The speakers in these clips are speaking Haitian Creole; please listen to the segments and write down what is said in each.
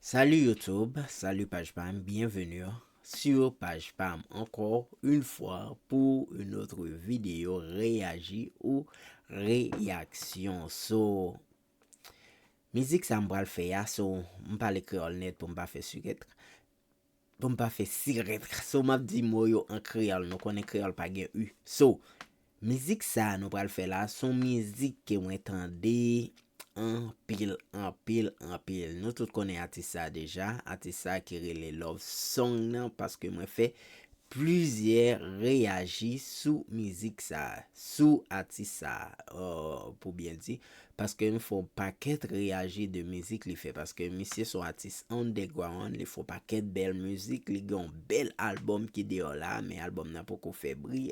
Salut YouTube, salut paj pam, bienvenue sur paj pam encore une fois pour une autre vidéo réagi ou réaction so mizik sa m pral fè ya so m pale kreyòl nèt pou m pa fè siket Pou m pa fè sirèt. So m ap di mo yo an kreyòl. Nou konnen kreyòl pa gen u. So, mizik sa a nou pral fè la a, s on mizik ke mwen tande anpil, anpil, anpil. Nou tout konnen atis sa a deja. Atis sa a ki rele Love Song nan paske mwen fè plizyè reyaji sou mizik sa a. Sou atis sa a, pou byen di. Paske m fon pakèt reyaji de mizik li fè paske misye son atis underground li fon pakèt bèl mizik li gen yon bèl album ki deyò la men album nan poko fè bri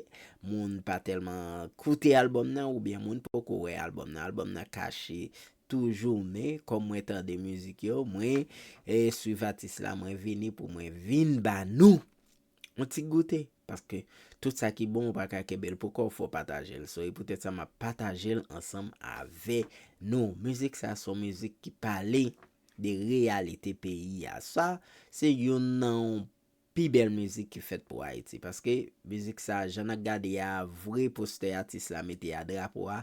moun pa tèlman koute album nan oubyen moun poko wè album nan album nan kache toujou men kòm mwen tande mizik yo mwen swiv atis la mwen vini pou mwen vin ba nou Yon ti goute, paske tout sa ki bon ou pa ka kenbe l pou kò w fò w pataje l. So e poutèt sa m ap pataje l ansanm avè nou. Mizik sa se yon mizik ki pale de reyalite peyi a. Sa se youn nan yon pi bèl mizik ki fèt pou Ayiti. Paske mizik sa jan nan gade a vre postè atis la mete a drapo a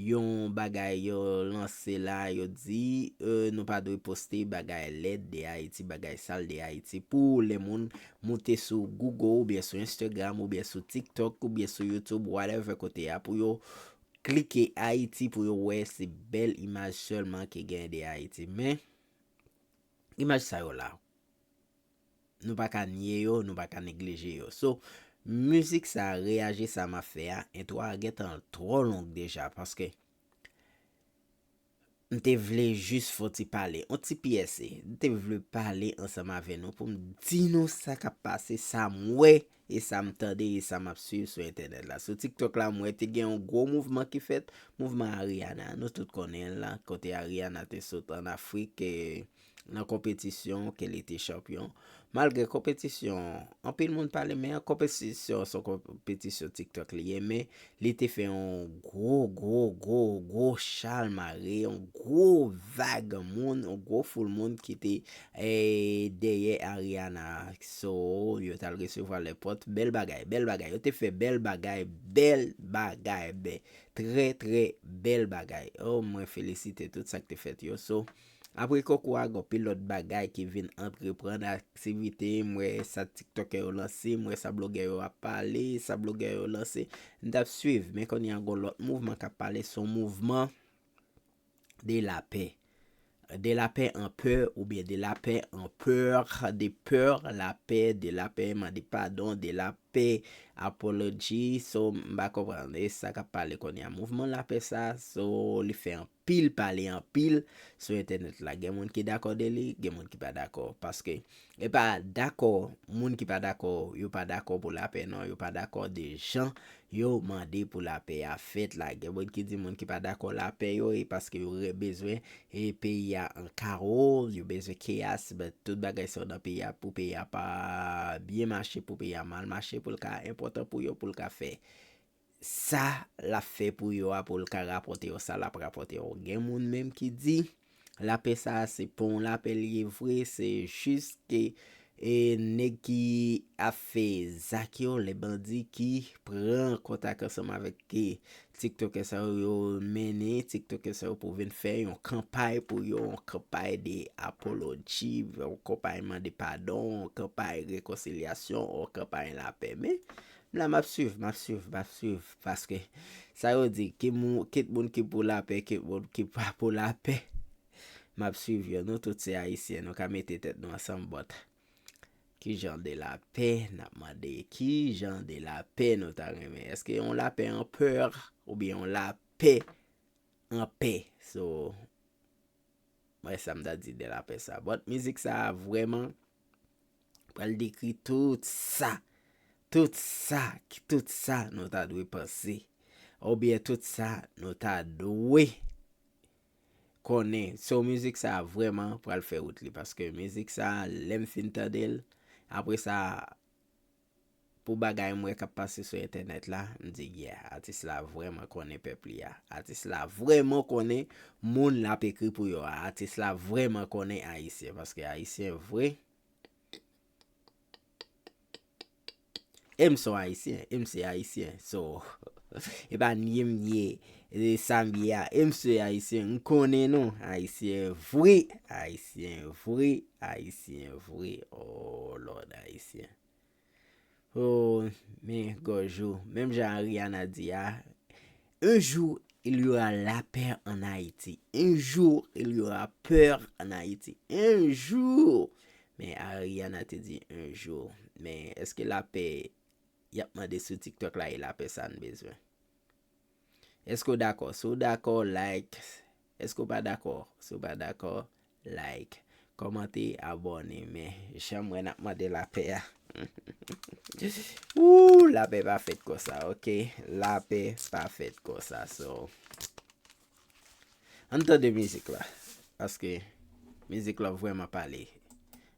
Yon bagay yo lanse la yo di nou pa dwe poste bagay lèd de Ayiti, bagay sal de Ayiti pou lè moun moute sou Google oubyen sou Instagram oubyen sou TikTok oubyen sou YouTube whatever kote a pou yo klike Ayiti pou yo wè se bèl imaj sèlman ki gen de Ayiti men imaj sa yo la. Nou pa ka nye yo, nou pa ka neglije yo. So, mizik sa a, Reyaje sa m ap fè a, entwo a gen tan l twò long deja paske m te vle jis fè yon ti pale, yon ti pyese. M te vle pale ansanm avè nou pou m di nou sa k ap pase, sa m wè e sa m tande e sa m ap swiv sou entènèt la. Sou TikTok la m wè te gen yon gwo mouvman ki fèt, mouvman Ariana an. Nou tout konnen l la, kote Ariana te sot an Afrik nan konpetisyon ke li te chanpyon. Malgre konpetisyon, anpil moun pale men konpetisyon se yon konpetisyon TikTok li ye men Li te fè yon gwo gwo gwo gwo chal mare, yon gwo vag moun, yon gwo foul moun ki te dèyè Ariana. So, yo t al resevwa lè pòt. Bèl bagay, bèl bagay. Yo te fè bèl bagay, bèl bagay. Trè trè bèl bagay. Oh, mwen felisite tout sa k te fèt yo. So. Apre koko a gonpil lòt bagay ki vin antreprann aktivite m wè sa tiktokè yo lanse m wè sa blogè yo ap pale sa blogè yo lanse m tap swiv men kounye a gon lòt mouvman kap pale son mouvman de lapè de lapè an pè oubyen de lapè an peur de peur lapè de lapè mande padon de lapè apology so m pa konprann e sa kap pale kounye a mouvman lapè sa so li fè anpil. pil pale anpil sou entènèt la gen moun ki dakò de li gen moun ki pa dakò paske e pa dakò moun ki pa dakò yo pa dakò pou lapè non yo pa dakò de jan yo mande pou lapè a fèt la gen moun ki di moun ki pa dakò lapè yo e paske yo re bezwen e peyi a an kawo yo bezwen keyas but tout bagay sa yo nan peyi a pou peyi a pa byen mache pou peyi a mal mache pou l ka enpòtan pou yo pou l ka fè sa lap fè pou yo a poul ka rapòte yo sa lap rapòte yo gen moun menm ki di lapè sa a se pa yon lapè li ye vre se jis ke e nèg ki ap fè zak yo le bandi ki pran kontak ansanm avèk ki tiktokè sa yo yo mennen tiktokè sa yo pou vin fè yon kanpay pou yo yon kanpay de apoloji yon kanpay mande padon yon kanpay rekonsilyasyon yon kanpay lapè men M la map swiv map swiv map swiv paske sa yo di kit moun ki pou lapè kit moun ki pa pou lapè map swiv yo nou tout se ayisyen nou ka mete tèt nou ansanm but kijan de lapè nap mande kijan de lapè nou ta renmen eske yon lapè an peur oubyen yon lapè an pè so Mwen sam ta di de lapè sa. But mizik sa vreman pral dekri tout sa, tout sa, tout sa nou ta dwe panse. Ou byen tout sa nou ta dwe konnen. So mizik sa vreman pral fè wout li. Paske mizik sa lèm fin tandel apre sa. Pou bagay m wè kap pase sou entènèt la, m di yeah, atis la vrèman konnen pèp li a. Atis la vrèman konnen moun lap ekri pou yo a. Atis la vrèman konnen Ayisyen, paske Ayisyen vre, e m son Ayisyen, e m se Ayisyen, so e pa nye m ye Se sam ye a e msye ayisyen m konnen nou ayisyen vre ayisyen vre ayisyen vre ooh lord ayisyen ooh men gòj ou menm jan Ariana di a un jour il y aura la paix en Haïti un jour il y aura peur en Haïti un jour men Ariana te di un jour men eske la paix yap mande sou tiktok la e la paix sa n bezwen. Eske w dakò? Si w dakò, like Eske w pa dakò? Si w pa dakò, like Kòmante, abòne Men jan m wè n ap mande lapè a Ooh Lapè pa fèt konsa ok Lapè pa fèt konsa So An n tande mizik la Paske mizik la vrèman pale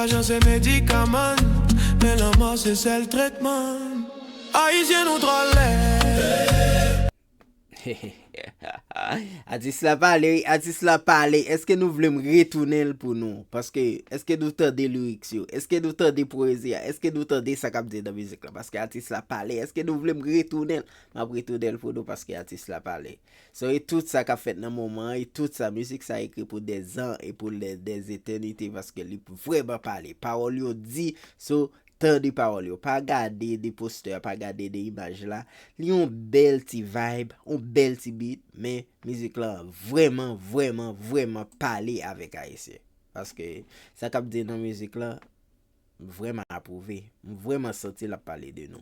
Lajan se medikaman, men lanmò se sèl tretman Ayisyen nou trò lèd. Atis la pale wi, atis la pale Eske nou vle m retounen l pou nou Paske eske nou tande lyrics yo Eske nou tande pwezi a Eske nou tande sa k ap di nan mizik la Paske atis la pale Eske nou vle m retounen l M ap retounen l pou nou Paske atis la pale. So e tout sa kap fèt nan moman an e tout sa mizik sa ekri pou dè zan e pou dè zetènite paske li vrèman pale pawòl yo di so tande pawòl yo pa gade de postè a pa gade de imaj la li yon bèl ti vibe yon bèl ti beat men mizik lan vrèman vrèman vrèman pale avèk ayisyen paske sa kap di nan mizik lan m vrèman apwouve m vrèman santi lap pale de nou.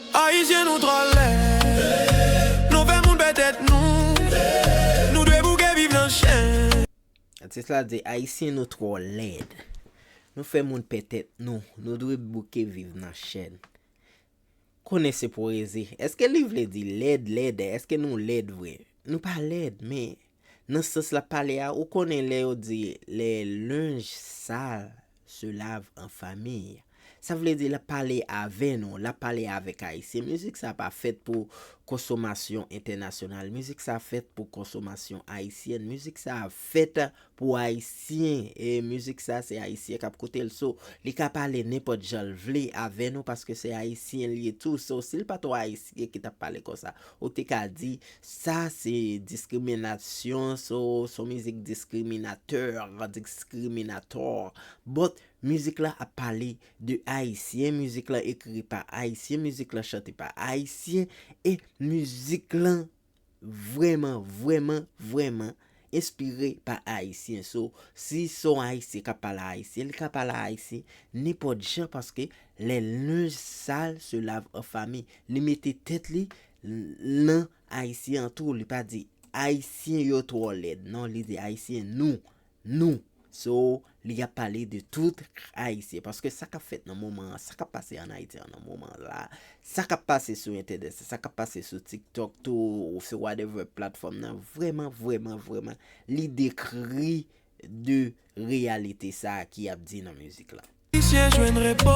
Ayisyen nou trò lèd Nou fè moun pè tèt nou Nou dwe bouke viv nan chen. Atis la di Ayisyen nou trò lèd Nou fè moun pè tèt nou Nou dwe bouke viv nan chen Konnen se pwezi Eske li vle di lèd lèd Eske nou lèd vre Nou pa lèd men Nan sans l ap pale a, ou konnen lè yo di le linge sale se lave en famille. Sa vle di l ap pale avè nou, l ap pale avèk Ayisyen. Mizik sa pa fèt pou konsomasyon entènasyonal. Mizik sa fèt pou konsomasyon ayisyèn. Mizik sa fèt pou Ayisyen. E mizik sa se Ayisyen k ap koute l. So, li ka pale nenpòt jan l vle avè nou paske se Ayisyen l ye tou. So, si l pa t yon Ayisyen ki t ap pale konsa, Ou te ka di, Sa se diskriminasyon, so, son mizik diskriminatèr, diskriminatòr. But, mizik la ap pale de Ayisyen, mizik la ekri pa Ayisyen, mizik la chante pa Ayisyen, e mizik lan vrèman, vrèman, vrèman. Enspire pa Ayisyen so si son Ayisyen kap pale a Ayisyen li ka pale a Ayisyen nenpòt jan paske lè linj sal se lave an fami li mete tèt li nan Ayisyen an tou li pa di Ayisyen yo twò lèd non li di Ayisyen nou nou so Li ap pale de tout Ayisyen. Paske sa k ap fèt nan moman an, sa k ap pase an Ayiti an nan moman la, sa k ap pase sou entènèt, sa k ap pase sou TikTok tou, sou whatever platfòm nan, vrèman, vrèman, vrèman, li dekri de reyalite sa a ki ap di nan mizik la. Ayisyen jwenn repo.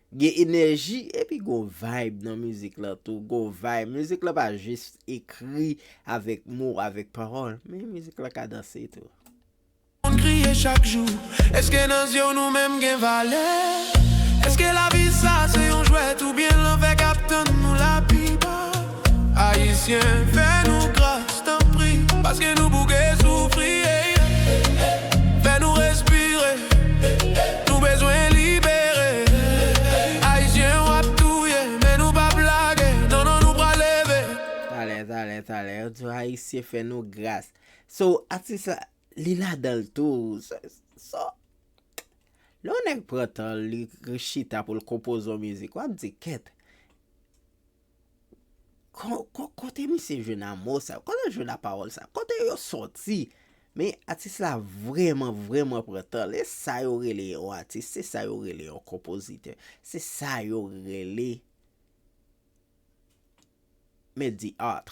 Gen enèji epi gon vibe nan mizik lan tou, gon vibe. Mizik lan pa jis ekri avèk mo, avèk pawòl, men mizik lan kadanse tou. Moun kriye chak jou, eske nan zye w nou menm gen valè? Eske lavi sa se yon jwèt oubyen lanfè k ap tann nou lapipa? Ayisyen fè nou gras tanpri paske nou bouke soufri Fè nou respire nou bezwen libere Ayisyen ou ap touye men nou pap lage non non nou pral leve. Talè talè talè yo di ayisyen fè nou gras so atis la li ladanl tou so lè yon nèg pran tanl li chita poul konpoze yon mizik wap di kèt. Kote misye jwenn a mo sa yo? Kote yo jwenn a pawòl sa yo? Kote yo sòti? Men atis la vrèman vrèman pran tan l. E sa yo rele yon atis, se sa yo rele yon konpozitè. Se sa yo rele men di art.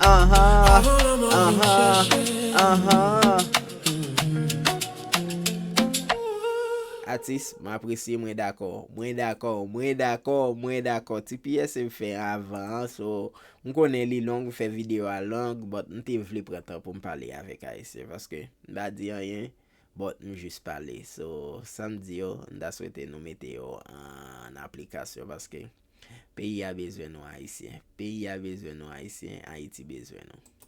Avan lanmò vin m chèche. Atis, m apresye mwen dakò. Mwen dakò, mwen dakò, mwen dakò. Ti piyese m fè avan an so m konnen li long m fè video a long but m te vle pran tan pou m pale avèk ayisyen paske m pa di anyen but m jis pale so sa m di yo m ta swete nou mete yo an aplikasyon paske Peyi a bezwen nou ayisyen. Peyi a bezwen nou ayisyen, Ayiti bezwen nou.